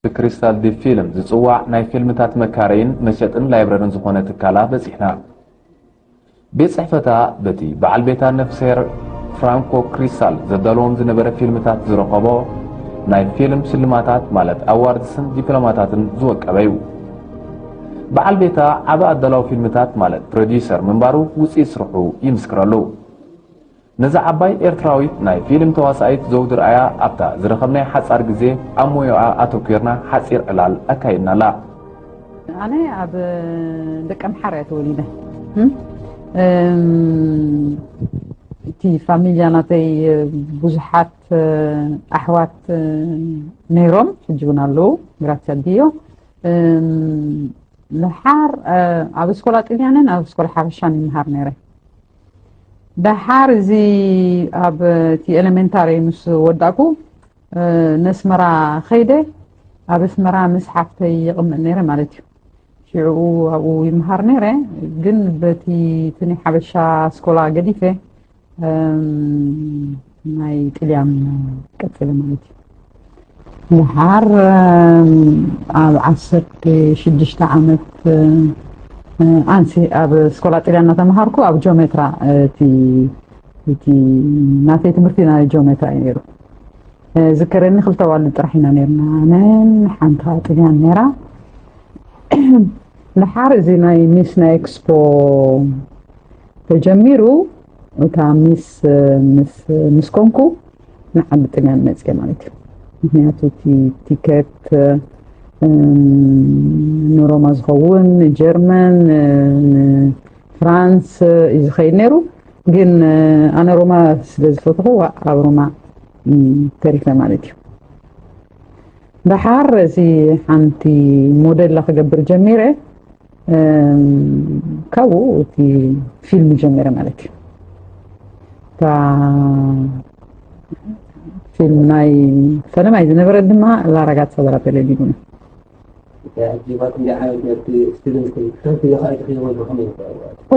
ብክሪስታል ዲፕ ፊልም ዝጽዋዕ ናይ ፊልምታት መካረይን መሸጥን ላይብረርን ዝኾነ ትካላ በጺሕና። ቤት ጽሕፈታ በቲ በዓል ቤታ ነፍስሄር ፍራንኮ ክሪስታል ዘዳለዎም ዝነበረ ፊልምታት ዝረኸቦ ናይ ፊልም ሽልማታት ማለት ኣዋርድስን ዲፕሎማታትን ዝወቀበ እዩ። በዓል ቤታ ዓቢ ኣዳላዊ ፊልምታት ማለት ፕሮዲዩሰር ምንባሩ ውጽኢት ስርሑ ይምስክረሉ። ነዛ ዓባይ ኤርትራዊት ናይ ፊልም ተዋሳኢት ዘውዲ ርኣያ ኣብታ ዝረኸብናያ ሓጻር ግዜ ኣብ ሞዮኣ ኣተኲርና ሓጺር ዕላል ኣካይድናላ። ኣነ ኣብ ደቀምሓረ እየ ተወሊደ እቲ ፋሚልያ ናተይ ብዙሓት ኣሕዋት ነይሮም ሕጂ እውን ኣለዉ ግራትስ ኣዲዮ ንሓር ኣብ ስኮላ ጥልያንን ኣብ ስኮላ ሓበሻን ይምሃር ነይረ ደሓር እዚ ኣብ እቲ ኤሌመንታሪ ምስ ወዳእኩ ነስመራ ከይደ ኣብ ኣስመራ ምስ ሓፍተይ ይቕመጥ ነይረ ማለት እዩ ሽዕኡ ኣብኡ ይምሃር ነይረ ግን በቲ ትኒ ሓበሻ ስኮላ ገዲፈ ናይ ጥልያን ቀፅለ ማለት እዩ ድሓር ኣብ ዓሰርተ ሽዱሽተ ዓመት ኣንሲ ኣብ ስኮላ ጥልያ እናተምሃርኩ ኣብ ጆሜትራ እቲ እቲ ናተይ ትምህርቲ ናይ ጆሜትራ እዩ ነይሩ ዝከረኒ ክልተ ዋልድ ጥራሕ ኢና ነርና ኣነን ሓንቲ ከዓ ጥልያን ነይራ ድሓር እዚ ናይ ሚስ ናይ ኤክስፖ ተጀሚሩ እታ ሚስ ምስ ኮንኩ ንዓዲ ጥልያን መፅየ ማለት እዩ ምክንያቱ እቲ ቲከት ንሮማ ዝኸውን ንጀርመን ንፍራንስ እዩ ዝኸይድ ነይሩ ግን ኣነ ሮማ ስለ ዝፈትኹ ኣብ ሮማ ተሪፈ ማለት እዩ ደሓር እዚ ሓንቲ ሞዴላ ክገብር ጀሚረ ካብኡ እቲ ፊልም ጀመረ ማለት እዩ እታ ፊልም ናይ ፈለማይ ዝነበረ ድማ ላራጋት ሰበራ ቴሌቪዥን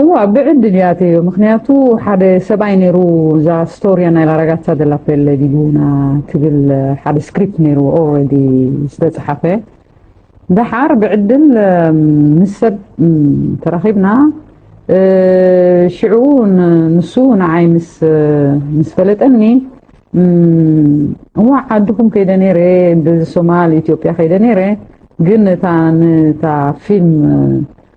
እዋ ብዕድል እያ እትዮ ምክንያቱ ሓደ ሰብኣይ ነይሩ እዛ ስቶሪያ ናይ ላራጋት ሳደላ ፔሌ ዲጉና ትብል ሓደ ስክሪፕት ነይሩ ኦልሬዲ ዝተፅሓፈ ደሓር ብዕድል ምስ ሰብ ተራኺብና ሽዑ ንሱ ንዓይ ምስ ፈለጠኒ እዋዕ ዓድኹም ከይደ ነይረ ብሶማል ኢትዮጵያ ከይደ ነይረ ግን እታ ፊልም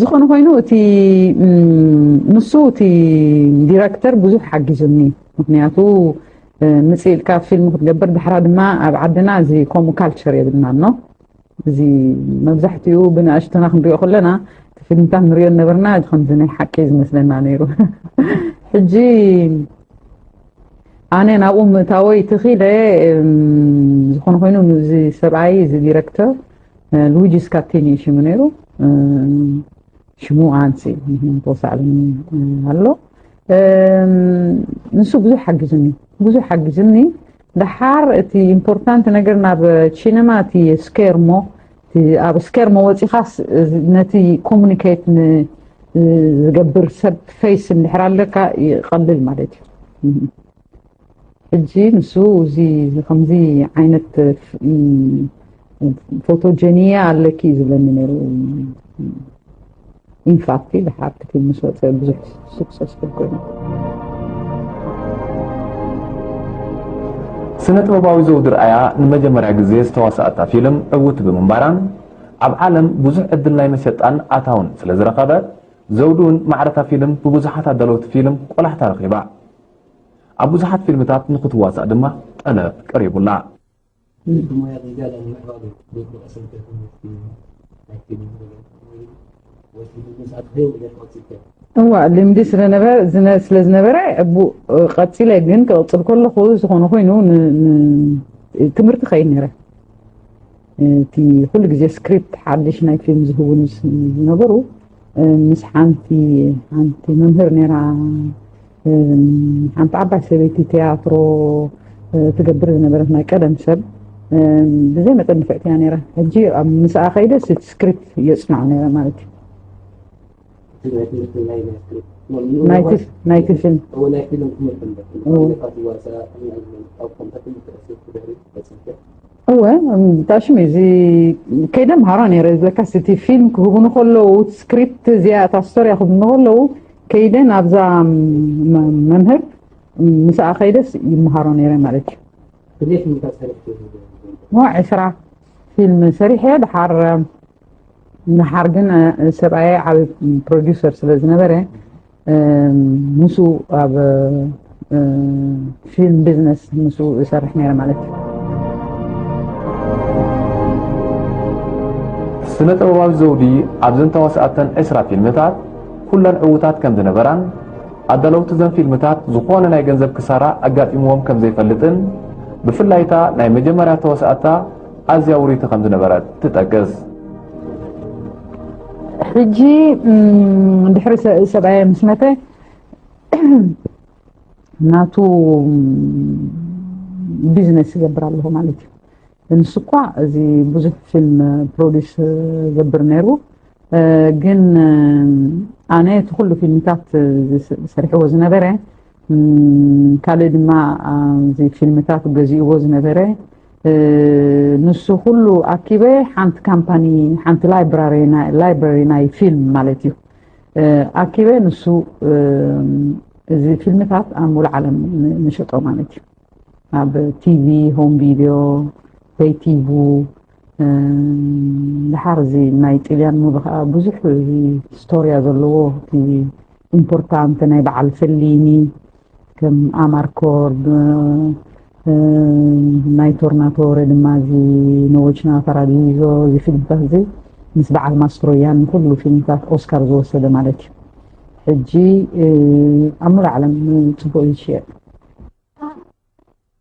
ዝኾነ ኮይኑ እቲ ንሱ እቲ ዲረክተር ብዙሕ ሓጊዙኒ ምክንያቱ ምፅእ ኢልካ ፊልም ክትገብር ድሕራ ድማ ኣብ ዓድና እዚ ከምኡ ካልቸር የብልና ኖ እዚ መብዛሕትኡ ብንእሽተና ክንሪኦ ከለና እቲ ፊልምታት ንሪኦ ነበርና እዚ ከምዚ ናይ ሓቂ ዝመስለና ነይሩ ሕጂ ኣነ ናብኡ ምእታወይ ትኺለ ዝኾነ ኮይኑ እዚ ሰብኣይ እዚ ዲረክተር ሉዊጂ ስካቲኒ እዩ ሽሙ ነይሩ ሽሙ ኣንሲ ተወሳዕብኒ ኣሎ ንሱ ብዙሕ ሓጊዙኒ ብዙሕ ሓጊዙኒ ደሓር እቲ ኢምፖርታንት ነገር ናብ ቺነማ እቲ ስኬርሞ ኣብ ስኬርሞ ወፂኻስ ነቲ ኮሙኒኬት ዝገብር ሰብ ፈይስ እንድሕር ኣለካ ይቐልል ማለት እዩ ሕጂ ንሱ እዚ ከምዚ ዓይነት ፎቶጀኒያ ኣለኪ ዝብለኒ ነይሩ ኢንፋክቲ ድሓር እቲ ፊልም ምስ ወፀ ብዙሕ ሱክሰስፉል ኮይኑ ስነ ጥበባዊ ዘውዲ ርኣያ ንመጀመርያ ግዜ ዝተዋሰኣታ ፊልም ዕውቲ ብምንባራን ኣብ ዓለም ብዙሕ ዕድል ናይ መሸጣን ኣታውን ስለ ዝረኸበት ዘውዲ እውን ማዕረታ ፊልም ብብዙሓት ኣዳለውቲ ፊልም ቆላሕታ ረኺባ ኣብ ብዙሓት ፊልምታት ንኽትዋሳእ ድማ ጠለብ ቀሪቡላ። እዚ ብሞያ ዝዳሎ ንምዕባሉ ዝግበኦ ሰንበት ትምህርቲ ናይ ፊልም ገለ ወይ ወትሩ ብምስኣል ትደሊ ነገር ቀጺልካ እዋእ ልምዲ ስለ ዝነበረ ቀጺለ ግን ክቕጽል ከለኹ ዝኾነ ኮይኑ ትምህርቲ ከይድ ነይረ እቲ ኩሉ ግዜ ስክሪፕት ሓድሽ ናይ ፊልም ዝህቡን ዝነበሩ ምስ ሓንቲ ሓንቲ መምህር ነራ ሓንቲ ዓባይ ሰበይቲ ትያትሮ ትገብር ዝነበረት ናይ ቀደም ሰብ ብዘይ መጠን ንፍዕቲ እያ ነራ ሕጂ ኣብ ምስኣ ከይደ ስክሪፕት የፅናዕ ነረ ማለት እዩ ናይቲ ፊልም እወ ብጣዕ ሽም እዩ እዚ ከይደ ምሃራ ነረ ለካስ እቲ ፊልም ክህቡኒ ከለዉ ስክሪፕት እዚኣ እታ ስቶሪያ ክህቡኒ ከለዉ ከይደ ናብዛ መምህር ምስኣ ከይደስ ይምሃሮ ነረ ማለት እዩ ዕስራ ፊልም ሰሪሐ ድሓር ንሓር ግን ሰብኣየ ዓብ ፕሮዲሰር ስለ ዝነበረ ምስ ኣብ ፊልም ቢዝነስ ምስ ዝሰርሕ ነረ ማለት እዩ ስነ ጥበባዊ ዘውዲ ኣብዘን ተዋስኣተን ዕስራ ፊልምታት ኩለን ዕውታት ከም ዝነበራን ኣዳለውቲ ዘን ፊልምታት ዝኾነ ናይ ገንዘብ ክሳራ ኣጋጢምዎም ከም ዘይፈልጥን ብፍላይ እታ ናይ መጀመርያ ተዋስኣታ ኣዝያ ውርይቲ ከም ዝነበረት ትጠቅስ። ሕጂ ድሕሪ ሰብኣየ ምስ መተ ናቱ ቢዝነስ ይገብር ኣለኹ ማለት እዩ ንሱ እኳ እዚ ብዙሕ ፊልም ፕሮዲስ ገብር ነይሩ ግን ኣነ እቲ ኩሉ ፊልምታት ዝሰርሕዎ ዝነበረ ካልእ ድማ እዚ ፊልምታት ገዚእዎ ዝነበረ ንሱ ኩሉ ኣኪበ ሓንቲ ካምፓኒ ሓንቲ ላይብራሪ ናይ ፊልም ማለት እዩ ኣኪበ ንሱ እዚ ፊልምታት ኣብ ሙሉ ዓለም ንሸጦ ማለት እዩ ኣብ ቲቪ ሆም ቪድዮ በይቲቡ ድሓር እዚ ናይ ጥልያን ሙሉ ከዓ ብዙሕ ስቶርያ ዘለዎ ኢምፖርታንት ናይ በዓል ፍሊኒ ከም ኣማርኮርድ ናይ ቶርናቶረ ድማ እዚ ነዎችና ፓራዲዞ እዚ ፊልምታት እዚ ምስ በዓል ማስትሮያን ንኩሉ ፊልምታት ኦስካር ዝወሰደ ማለት እዩ ሕጂ ኣብ ሙሉ ዓለም ፅቡቅ እዩ ዝሽየጥ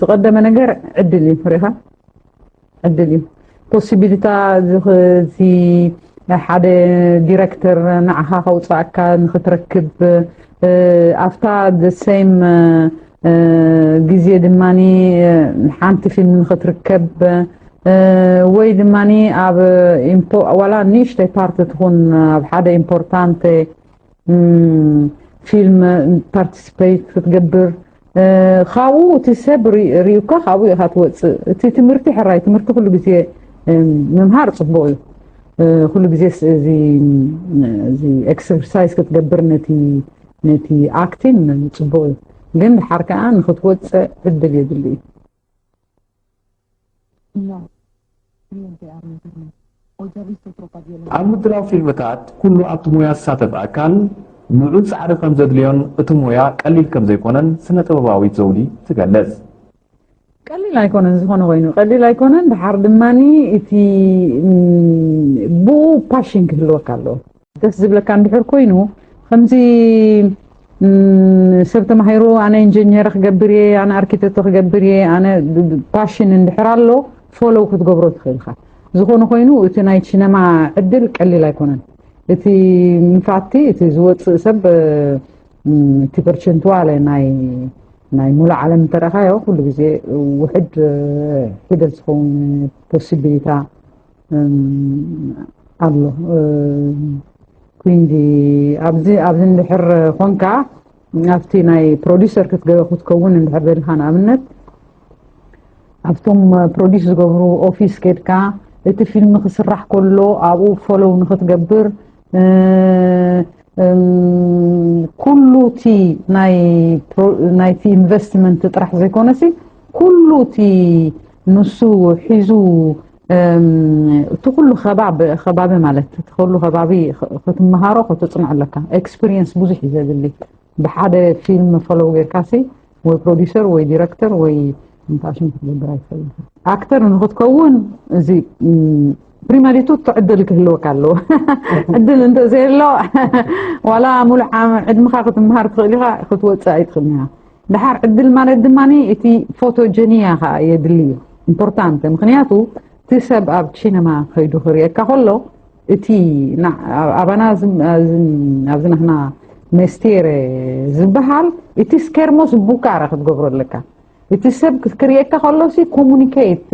ዝቀደመ ነገር ዕድል እዩ ሪኻ ዕድል እዩ ፖሲቢሊታ እዚ ናይ ሓደ ዲረክተር ንዓኻ ከውፅኣካ ንክትረክብ ኣብታ ሰም ግዜ ድማ ሓንቲ ፊልም ንክትርከብ ወይ ድማ ኣብ ዋላ ንእሽተይ ፓርቲ ትኹን ኣብ ሓደ ኢምፖርታንት ፊልም ፓርቲስፐይት ክትገብር ካብኡ እቲ ሰብ ሪዩካ ካብኡ ኢኻ ትወፅእ እቲ ትምህርቲ ሕራይ ትምህርቲ ኩሉ ግዜ ምምሃር ፅቡቅ እዩ ኩሉ ግዜ እዚ ኤክሰርሳይዝ ክትገብር ነቲ ነቲ ኣክቲን ፅቡቅ እዩ ግን ድሓር ከዓ ንክትወፅእ ዕድል የድሊ እዩ ኣብ ምድላው ፊልምታት ኩሉ ኣብቲ ሞያ ዝሳተፍ ኣካል ልዑል ጻዕሪ ከም ዘድልዮን እቲ ሞያ ቀሊል ከም ዘይኮነን ስነ-ጥበባዊት ዘውዲ ትገልጽ። ቀሊል ኣይኮነን ዝኾነ ኮይኑ ቀሊል ኣይኮነን ድሓር ድማ እቲ ብኡ ፓሽን ክህልወካ ኣለዎ ደስ ዝብለካ እንድሕር ኮይኑ ከምዚ ሰብ ተማሂሩ ኣነ ኢንጂነር ክገብር እየ ኣነ ኣርኪቴክቶ ክገብር እየ ኣነ ፓሽን እንድሕር ኣሎ ፎሎው ክትገብሮ ትኽእል ኢኻ ዝኾነ ኮይኑ እቲ ናይ ሲነማ ዕድል ቀሊል ኣይኮነን እቲ ምፋቲ እቲ ዝወፅእ ሰብ እቲ ፐርቸንትዋለ ናይ ናይ ሙሉእ ዓለም እንተረኻዮ ኩሉ ግዜ ውሕድ ሒደት ዝኸውን ፖሲቢሊታ ኣሎ ኩንዲ ኣብዚ ኣብዚ እንድሕር ኮንካ ኣብቲ ናይ ፕሮዲሰር ክትከውን እንድሕር ደልካ ንኣብነት ኣብቶም ፕሮዲስ ዝገብሩ ኦፊስ ኬድካ እቲ ፊልም ክስራሕ ከሎ ኣብኡ ፎሎው ንክትገብር ኩሉ እቲ ናይቲ ኢንቨስትመንት ጥራሕ ዘይኮነሲ ኩሉ እቲ ንሱ ሒዙ እቲ ኩሉ ከባቢ ማለት እቲ ኩሉ ከባቢ ክትመሃሮ ክትፅንዕ ኣለካ ኤክስፒሪየንስ ብዙሕ እዩ ዘድሊ ብሓደ ፊልም ፈለው ጌርካሲ ወይ ፕሮዲሰር ወይ ዲረክተር ወይ እንታይ ሽም ክትገብር ኣይትኽእል ኣክተር ንክትከውን እዚ ፕሪማሊቱ ትዕድል ክህልወካ ኣለዎ ዕድል እንተዘየሎ ዋላ ሙሉእ ዕድምኻ ክትምሃር ትኽእል ኢኻ ክትወፅእ ኣይትኽእልን ኢኻ ድሓር ዕድል ማለት ድማ እቲ ፎቶጀኒያ ከዓ የድሊ እዩ ኢምፖርታንት ምክንያቱ እቲ ሰብ ኣብ ቺነማ ከይዱ ክርእየካ ከሎ እቲ ኣባና ኣብዚ ናህና መስቴር ዝበሃል እቲ ስኬርሞስ ቡካረ ክትገብሮ ኣለካ እቲ ሰብ ክርእየካ ከሎሲ ኮሙኒኬት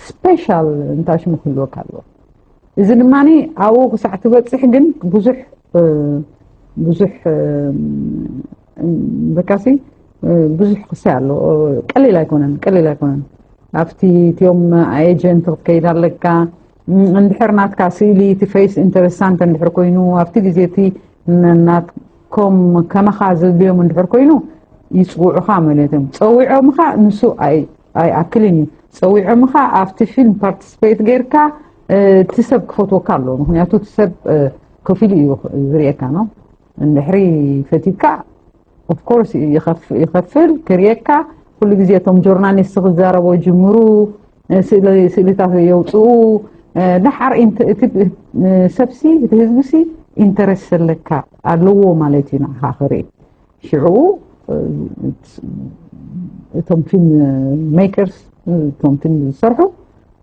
ስፔሻል እንታይ ሽሙ ክህልወካ ኣለዎ እዚ ድማ ኣብኡ ክሳዕ ትበፅሕ ግን ብዙሕ ብዙሕ በቃሲ ብዙሕ ክሳይ ኣሎ ቀሊል ኣይኮነን ቀሊል ኣይኮነን ኣብቲ እትዮም ኤጀንት ክትከይድ ኣለካ እንድሕር ናትካ ስእሊ እቲ ፌስ ኢንተረሳንት እንድሕር ኮይኑ ኣብቲ ግዜ እቲ ናትኮም ከማኻ ዝድልዮም እንድሕር ኮይኑ ይፅውዑኻ ማለት እዮም ፀዊዖምኻ ንሱ ኣይኣክልን እዩ ፀዊዖምኻ ኣብቲ ፊልም ፓርቲስፔት ጌርካ እቲ ሰብ ክፈትወካ ኣለዎ ምክንያቱ እቲ ሰብ ከፊሉ እዩ ዝርኤካ ነው እንድሕሪ ፈቲካ ኦፍኮርስ ይኸፍል ክርየካ ኩሉ ግዜ እቶም ጆርናሊስት ክዛረቦ ጅምሩ ስእልታት የውፅኡ ደሓር ሰብሲ እቲ ህዝቢሲ ኢንተረስ ዘለካ ኣለዎ ማለት እዩ ንዓኻ ክርኢ ሽዑ እቶም ፊልም ሜከርስ እቶም ፊልም ዝሰርሑ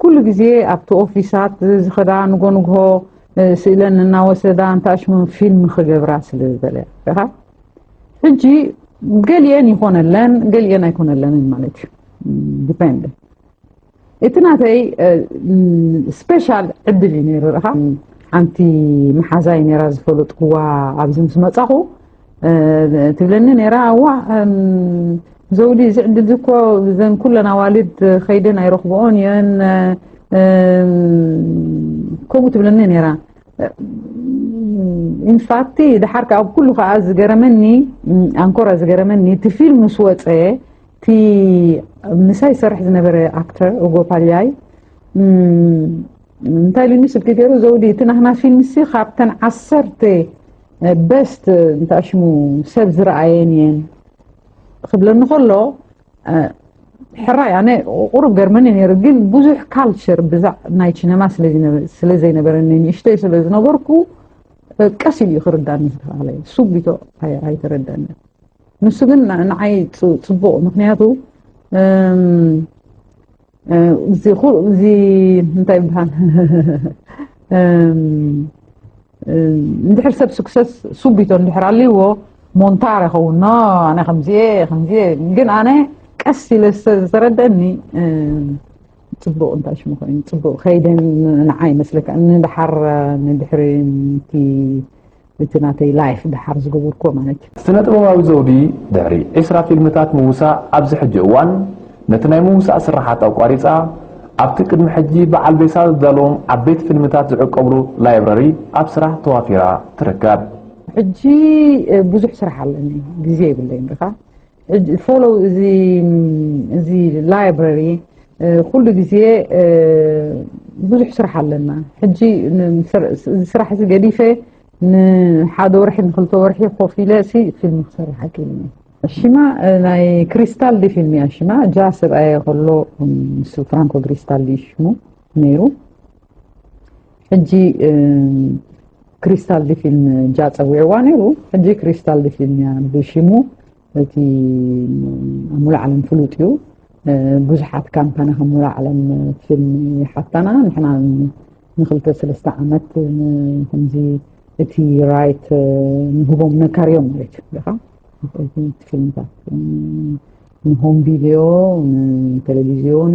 ኩሉ ግዜ ኣብቲ ኦፊሳት ዝኸዳ ንጎ ንግሆ ስእለን እናወሰዳ እንታሽሙ ፊልም ክገብራ ስለ ዝበለያ ሕጂ ገሊአን ይኾነለን ገሊአን ኣይኮነለንን ማለት እዩ ዲፔንድ እቲ ናተይ ስፔሻል ዕድል እዩ ነይሩ ርኢኻ ሓንቲ መሓዛይ ነራ ዝፈለጥኩዋ ኣብዚ ምስ መፃኹ ትብለኒ ነራ ኣዋእ ዘውዲ እዚ ዕድል እዚ እኮ ዘን ኩለን ኣዋልድ ከይደን ኣይረኽብኦን እየን ከምኡ ትብለኒ ነራ ኢንፋክቲ ድሓር ከዓ ኩሉ ከዓ ዝገረመኒ ኣንኮራ ዝገረመኒ እቲ ፊልም ምስ ወፀ እቲ ምሳይ ሰርሕ ዝነበረ ኣክተር ኦጎፓልያይ እንታይ ኢሉኒ ስልኪ ገይሩ ዘውዲ እቲ ናህና ፊልምሲ ካብተን ዓሰርተ በስት እንታይ ሽሙ ሰብ ዝረኣየን እየን ክብለኒ ከሎ ሕራይ ኣነ ቁሩብ ገርመኒ ነይሩ ግን ብዙሕ ካልቸር ብዛዕ ናይ ችነማ ስለ ዘይነበረኒ ንእሽተይ ስለ ዝነበርኩ ቀስ ኢሉ ክርዳኒ ዝተባሃለ ሱቢቶ ኣይተረዳኒ ንሱ ግን ንዓይ ፅቡቅ ምክንያቱ እዚ እንታይ ይበሃል እንድሕር ሰብ ስክሰስ ሱቢቶ እንድሕር ኣልዎ ሞንታር ይኸውን ኖ ኣነ ከምዚ ከምዚ ግን ኣነ ቀስ ኢለ ዝተረደአኒ ፅቡቅ እንታይ ሽሙ ኮይኑ ፅቡቅ ከይደን ንዓ ይመስለካ ንድሓር ንድሕሪ እቲ እቲ ናተይ ላይፍ ደሓር ዝገበርኩዎ ማለት እዩ። ስነጥበባዊ ዘውዲ ድሕሪ ዕስራ ፊልምታት ምውሳእ ኣብዚ ሕጂ እዋን ነቲ ናይ ምውሳእ ስርሓት ኣቋሪጻ ኣብቲ ቅድሚ ሕጂ በዓል ቤሳ ዘዳለዎም ዓበይቲ ፊልምታት ዝዕቀብሉ ላይብረሪ ኣብ ስራሕ ተዋፊራ ትርከብ። ሕጂ ብዙሕ ስራሕ ኣለኒ ግዜ የብለይን ድኻ ፎሎ እዚ እዚ ላይብረሪ ኩሉ ግዜ ብዙሕ ስራሕ ኣለና ሕጂ ስራሕ እዚ ገዲፈ ንሓደ ወርሒ ንክልተ ወርሒ ኮፍ ኢለ ሲ ፊልም ክሰርሕ ኣኪልኒ ሽማ ናይ ክሪስታል ዲ ፊልም እያ ሽማ ጃ ሰብኣየ ከሎ ምስ ፍራንኮ ክሪስታል ዩ ሽሙ ነይሩ ሕጂ ክሪስታል ዲፊን ጃ ፀዊዕዋ ነይሩ ሕጂ ክሪስታል ዲፊን እያ ብሽሙ እቲ ኣብ ሙሉእ ዓለም ፍሉጥ እዩ ብዙሓት ካምፓኒ ካብ ሙሉእ ዓለም ፊልም ይሓታና ንሕና ንክልተ ሰለስተ ዓመት ከምዚ እቲ ራይት ንህቦም ነካርዮም ማለት እዩ ካ ፊልምታት ንሆም ቪድዮ ንቴሌቪዝዮን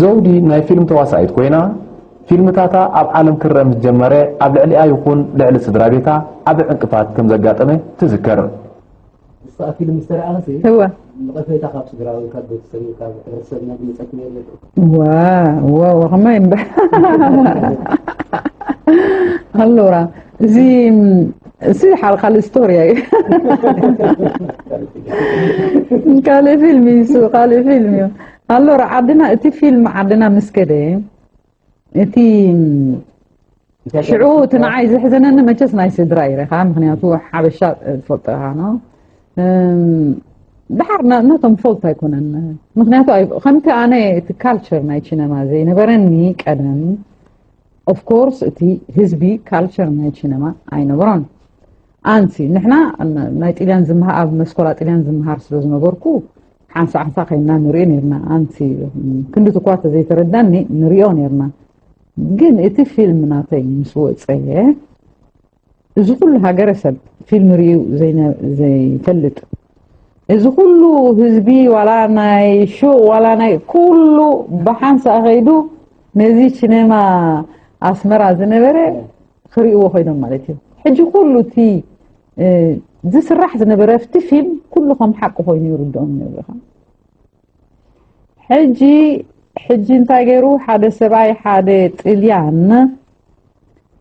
ዘውዲ ናይ ፊልም ተዋሳኢት ኮይና ፊልምታታ ኣብ ዓለም ክረእ ምስ ጀመረ ኣብ ልዕሊኣ ይኹን ልዕሊ ስድራቤታ ዓቢ ዕንቅፋት ከም ዘጋጠመ ትዝክር። እሳ ፊልም ምስ ተራእኸሲ ንቐፈይታ ካብ ስድራ ወይ ካብ ቤተሰብ ወይ ካብ ሕብረተሰብ ናይ ድምጸት ነይሩ ዶ? ዋው ዋው ከመይ እምበር ሃሎራ እዚ እዚ ሓል ካልእ ስቶሪ እዩ ካልእ ፊልም እዩ እሱ ካልእ ፊልም እዩ ኣሎ ዓድና እቲ ፊልም ዓድና ምስ ከደ እቲ ሽዑ እቲ ንዓይ ዘሕዘነኒ መቸስ ናይ ስድራ ይረኻ ምክንያቱ ሓበሻ ትፈልጦ ኢኻ ኖ ድሓር ነቶም ፈልት ኣይኮነን ምክንያቱ ከምቲ ኣነ እቲ ካልቸር ናይ ቺነማ ዘይነበረኒ ቀደም ኦፍ ኮርስ እቲ ህዝቢ ካልቸር ናይ ቺነማ ኣይነበሮን ኣንሲ ንሕና ናይ ጥልያን ዝምሃር ኣብ መስኮላ ጥልያን ዝምሃር ስለ ዝነበርኩ ሓንሳ ሓንሳ ከይና ንሪኦ ነርና ኣንሲ ክንዲ ትኳ ተዘይተረዳኒ ንሪኦ ነርና ግን እቲ ፊልም ናተይ ምስ ወፀ እዚ ኩሉ ሃገረሰብ ፊልም ሪኡ ዘይፈልጥ እዚ ኩሉ ህዝቢ ዋላ ናይ ሹቅ ዋላ ናይ ኩሉ ብሓንሳእ ከይዱ ነዚ ሲነማ ኣስመራ ዝነበረ ክርእዎ ኮይኖም ማለት እዩ ሕጂ ኩሉ እቲ ዝስራሕ ዝነበረ ኣብቲ ፊልም ኩሉ ከም ሓቂ ኮይኑ ይርድኦም ነብርኻ ሕጂ ሕጂ እንታይ ገይሩ ሓደ ሰብኣይ ሓደ ጥልያን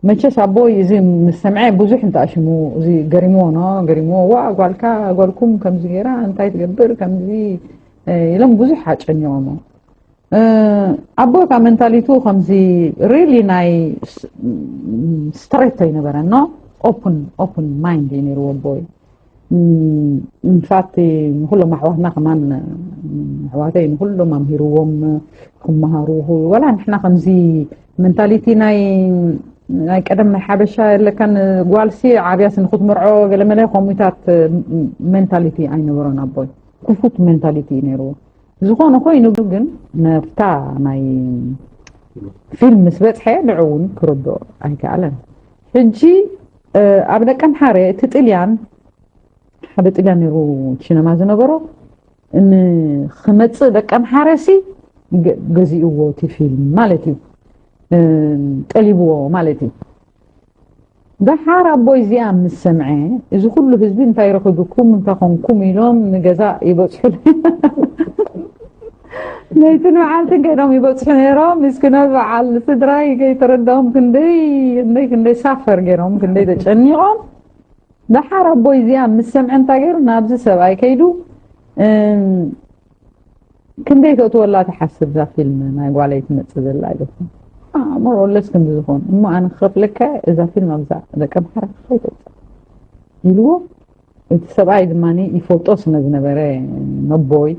መቸስ ኣቦይ እዚ ምስ ሰምዐ ብዙሕ እንተኣሽሙ እዚ ገሪምዎ ኖ ገሪምዎ ዋ ጓልካ ጓልኩም ከምዚ ገይራ እንታይ ትገብር ከምዚ ኢሎም ብዙሕ ኣጨኒቖሞ ኣቦይ ካብ ሜንታሊቱ ከምዚ ሪሊ ናይ ስትሬት ኣይነበረን ኖ ኦፕን ኦፕን ማይንድ እዩ ነይርዎ ኣቦይ ንፋት ንኩሎም ኣሕዋትና ከማን ኣሕዋተይ ንኩሎም ኣምሂርዎም ክመሃሩ ወላ ንሕና ከምዚ መንታሊቲ ናይ ናይ ቀደም ናይ ሓበሻ የለካን ጓልሲ ዓብያሲ ንክትምርዖ ገለመለ ከምኡታት ሜንታሊቲ ኣይነበሮን ኣቦይ ክፉት ሜንታሊቲ እዩ ነይርዎ ዝኾነ ኮይኑ ግን ናብታ ናይ ፊልም ምስ በፅሐ ንዑ እውን ክርድኦ ኣይከኣለን ሕጂ ኣብ ደቂ ኣምሓረ እቲ ጥልያን ሓደ ጥልያን ነይሩ ቺነማ ዝነበሮ ንክመፅእ ደቂ ኣምሓረ ሲ ገዚእዎ እቲ ፊልም ማለት እዩ ጠሊብዎ ማለት እዩ ደሓር ኣቦይ እዚኣ ምስ ሰምዐ እዚ ኩሉ ህዝቢ እንታይ ረኺብኩም እንታይ ኮንኩም ኢሎም ንገዛ ይበፅሑ ነይቲ ንበዓልትን ከይዶም ይበፅሑ ነይሮም ምስኪኖት በዓል ስድራይ ከይተረድኦም ክንደይ ክንደይ ክንደይ ሳፈር ገይሮም ክንደይ ተጨኒቖም ደሓር ኣቦይ እዚኣ ምስ ሰምዐ እንታይ ገይሩ ናብዚ ሰብኣይ ከይዱ ክንደይ ተእትወላ ትሓስብ እዛ ፊልም ናይ ጓለይ ትመጽእ ዘላ ኢለኩም ሞሮለስ ክንዲ ዝኾኑ እሞ ኣነ ክኸፍለካ እዛ ፊልም ኣብዛ ደቂ ኣምሓራ ከይተውፅእ ኢልዎ እቲ ሰብኣይ ድማ ይፈልጦ ስለ ዝነበረ ነቦይ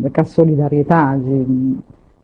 በቃ ሶሊዳርየታ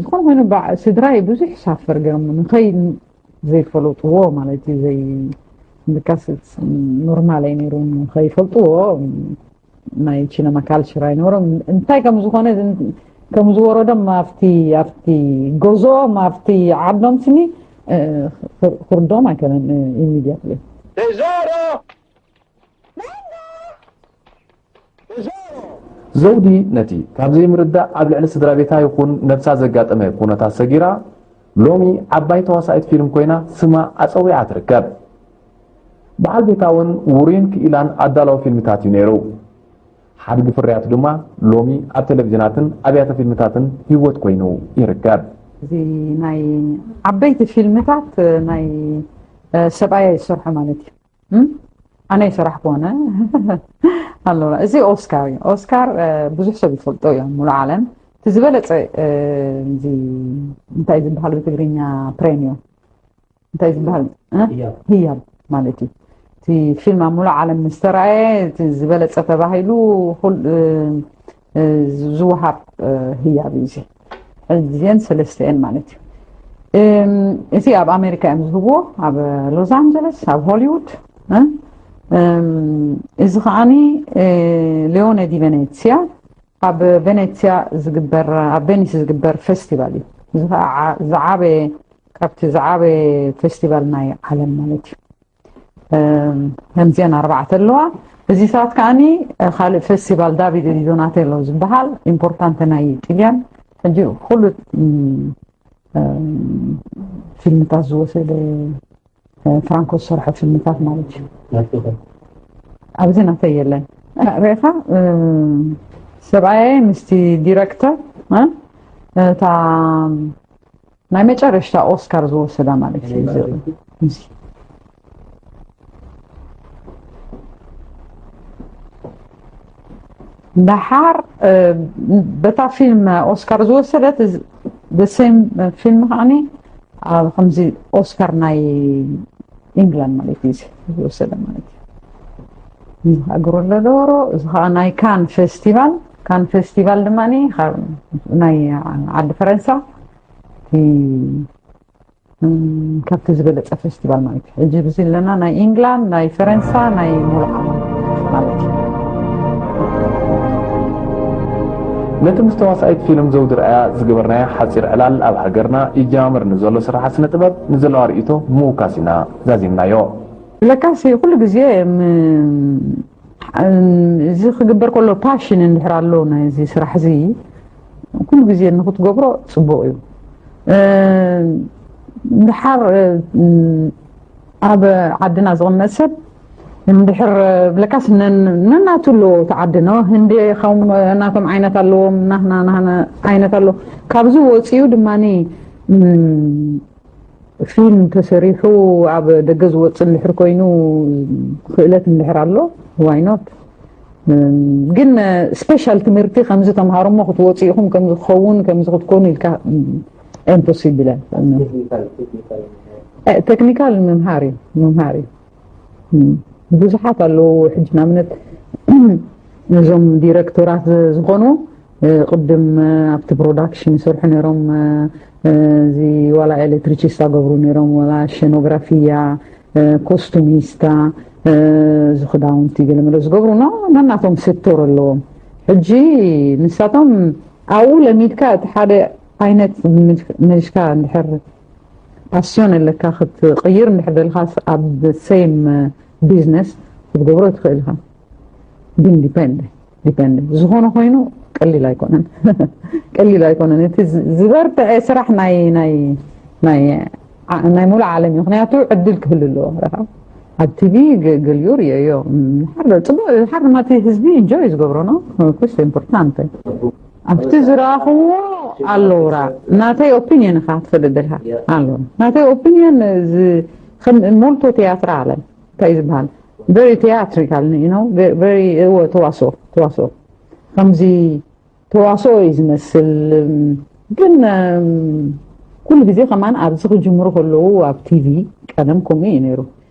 ዝኾነ ኮይኑ ስድራይ ብዙሕ ሳፈር ገይሮም ንኸይ ዘይፈለጥዎ ማለት እዩ ዘይ ምካስ ኖርማል ኣይ ነይሩ ከይፈልጥዎ ናይ ቺነማ ካልቸር ኣይነበሮም እንታይ ከም ዝኾነ ከም ዝወረዶም ኣብቲ ኣብቲ ጎዞኦም ኣብቲ ዓዶም ስኒ ክርዶም ኣይከነን ኢሚድያትሊ Tesoro! ዘውዲ ነቲ ካብ ዘይምርዳእ ኣብ ልዕሊ ስድራቤታ ይኹን ነብሳ ዘጋጠመ ኩነታት ሰጊራ ሎሚ ዓባይ ተዋሳኢት ፊልም ኮይና ስማ ኣጸዊዓ ትርከብ። በዓል ቤታ እውን ውሩይን ክኢላን ኣዳላዊ ፊልምታት እዩ ነይሩ። ሓድጊ ፍርያቱ ድማ ሎሚ ኣብ ቴሌቭዥናትን ኣብያተ ፊልምታትን ህይወት ኮይኑ ይርከብ። እዚ ናይ ዓበይቲ ፊልምታት ናይ ሰብኣያ ይሰርሖ ማለት እዩ። ኣነ ይሰራሕ ኮነ ኣለና እዚ ኦስካር እዩ ኦስካር ብዙሕ ሰብ ይፈልጦ እዮም ሙሉ ዓለም እቲ ዝበለፀ እዚ እንታይ ዝበሃል ብትግርኛ ፕሬም እዩ እንታይ ዝበሃል ህያብ ማለት እዩ እቲ ፊልም ኣብ ሙሉ ዓለም ዝተረኣየ ዝበለፀ ተባሂሉ ዝወሃብ ህያብ እዩ እዚ እዚን ሰለስተኤን ማለት እዩ እም፣ እቲ ኣብ ኣሜሪካ እዮም ዝህብዎ ኣብ ሎስ ኣንጀለስ ኣብ ሆሊውድ እ? እም፣ እዚ ከዓኒ እ፣ ሊዮነ ዲ ቬኔትስያ ኣብ ቬኔትስያ ዝግበር ኣብ ቬኒስ ዝግበር ፌስቲቫል እዩ እዚ ከዓ ዓ- ዝዓበየ ካብቲ ዝዓበየ ፌስቲቫል ናይ ዓለም ማለት እዩ ከምዚአን ኣርባዕተ ኣለዋ እዚ ሰዓት ከዓኒ ካልእ ፌስቲቫል ዳቪድ ዲ ዶናቴሎ ዝበሃል ኢምፖርታንተ ናይ ጥልያን ሕጂ ኩሉ ፊልምታት ዝወሰደ ፍራንኮ ዝሰርሖ ፊልምታት ማለት እዩ ኣብዚ ናተይ የለን ርኢኻ ሰብኣየ ምስቲ ዲረክተር እታ ናይ መጨረሽታ ኦስካር ዝወሰዳ ማለት እዩ እዚ እዚ ደሓር እ፣ በታ ፊልም ኦስካር ዝወሰደት እዚ- the same ፊልም ከዓኒ ኣብ ከምዚ ኦስካር ናይ ኢንግላንድ ማለት እዩ እዚ ዝወሰደ ማለት እዩ እዚ ከዓ ግሩለ ዶሮ እዚ ከዓ ናይ ካን ፌስቲቫል ካን ፌስቲቫል ድማ ናይ ዓዲ ፈረንሳ ካብቲ ዝበለፀ ፌስቲቫል ማለት እዩ ሕጂ ብዚ ኣለና ናይ ኢንግላንድ ናይ ፈረንሳ ናይ ሙሉእ ዓለም ማለት እዩ ነቲ ምስ ተዋሳኢት ፊልም ዘውዲ ርኣያ ዝገበርናዮ ሓጺር ዕላል ኣብ ሃገርና ይጀማመር ንዘሎ ስርሓት ስነ ጥበብ ንዘለዋ ርእይቶ ምውካስ ኢና ዛዚምናዮ። ለካሲ ኩሉ ግዜ እዚ ክግበር ከሎ ፓሽን እንድሕር ኣሎ ናይዚ ስራሕ እዚ ኩሉ ግዜ ንክትገብሮ ፅቡቅ እዩ እንድሓር ኣብ ዓድና ዝቕመጥ ሰብ እንድሕር ብለካስ ነናቱ ኣለዎ እቲ ዓዲ ነ ህንዲ ከም ናቶም ዓይነት ኣለዎም ናህና ናህና ዓይነት ኣለዎ ካብዚ ወፂኡ ድማ ፊልም ተሰሪሑ ኣብ ደገ ዝወፅእ እንድሕር ኮይኑ ክእለት እንድሕር ኣሎ ዋይ ኖት ግን ስፔሻል ትምህርቲ ከምዚ ተምሃሮ እሞ ክትወፁ ኢኹም ከምዚ ክኸውን ከምዚ ክትኮኑ ኢልካ ኢምፖሲብል ቴክኒካል ምምሃር እዩ ምምሃር እዩ ብዙሓት ኣለዉ ሕጂ ንኣብነት ነዞም ዲረክቶራት ዝኾኑ ቅድም ኣብቲ ፕሮዳክሽን ይሰርሑ ነይሮም እዚ ዋላ ኤሌክትሪቺስታ ገብሩ ነይሮም ዋላ ሸኖግራፊያ ኮስቱሚስታ እዚ ክዳውንቲ ገለመለ ዝገብሩ ኖ ነናቶም ሴክቶር ኣለዎም ሕጂ ንሳቶም ኣብኡ ለሚድካ እቲ ሓደ ዓይነት መልሽካ እንድሕር ፓስዮን ኣለካ ክትቕይር እንድሕር ደልኻስ ኣብ ሰይም ቢዝነስ ክትገብሮ ትኽእል ኢኻ ግን ዲፐንድ ዲፐንድ ዝኾነ ኮይኑ ቀሊል ኣይኮነን ቀሊል ኣይኮነን እቲ ዝበርትዐ ስራሕ ናይ ናይ ናይ ናይ ሙሉእ ዓለም እዩ ምክንያቱ ዕድል ክህሉ ኣለዎ ረኻ ኣብ ቲቪ ገልዮ ርዮዮ ሓር ፅቡቅ ሓር ማቲ ህዝቢ እንጆይ ዝገብሮ ነው ኩስ ኢምፖርታንት ኣብቲ ዝረኣኽዎ ኣሎውራ ናተይ ኦፒንየን እኻ ትፈደደልካ ኣሎ ናተይ ኦፒንየን እዚ ከም ሞልቶ ትያትራ ኣለ እንታይ እዩ ዝበሃል ቨሪ ትያትሪካል ነው ቨሪ እወ ተዋስኦ ተዋስኦ ከምዚ ተዋስኦ እዩ ዝመስል ግን ኩሉ ግዜ ከማን ኣብዚ ክጅምሩ ከለዉ ኣብ ቲቪ ቀደም ከምኡ እዩ ነይሩ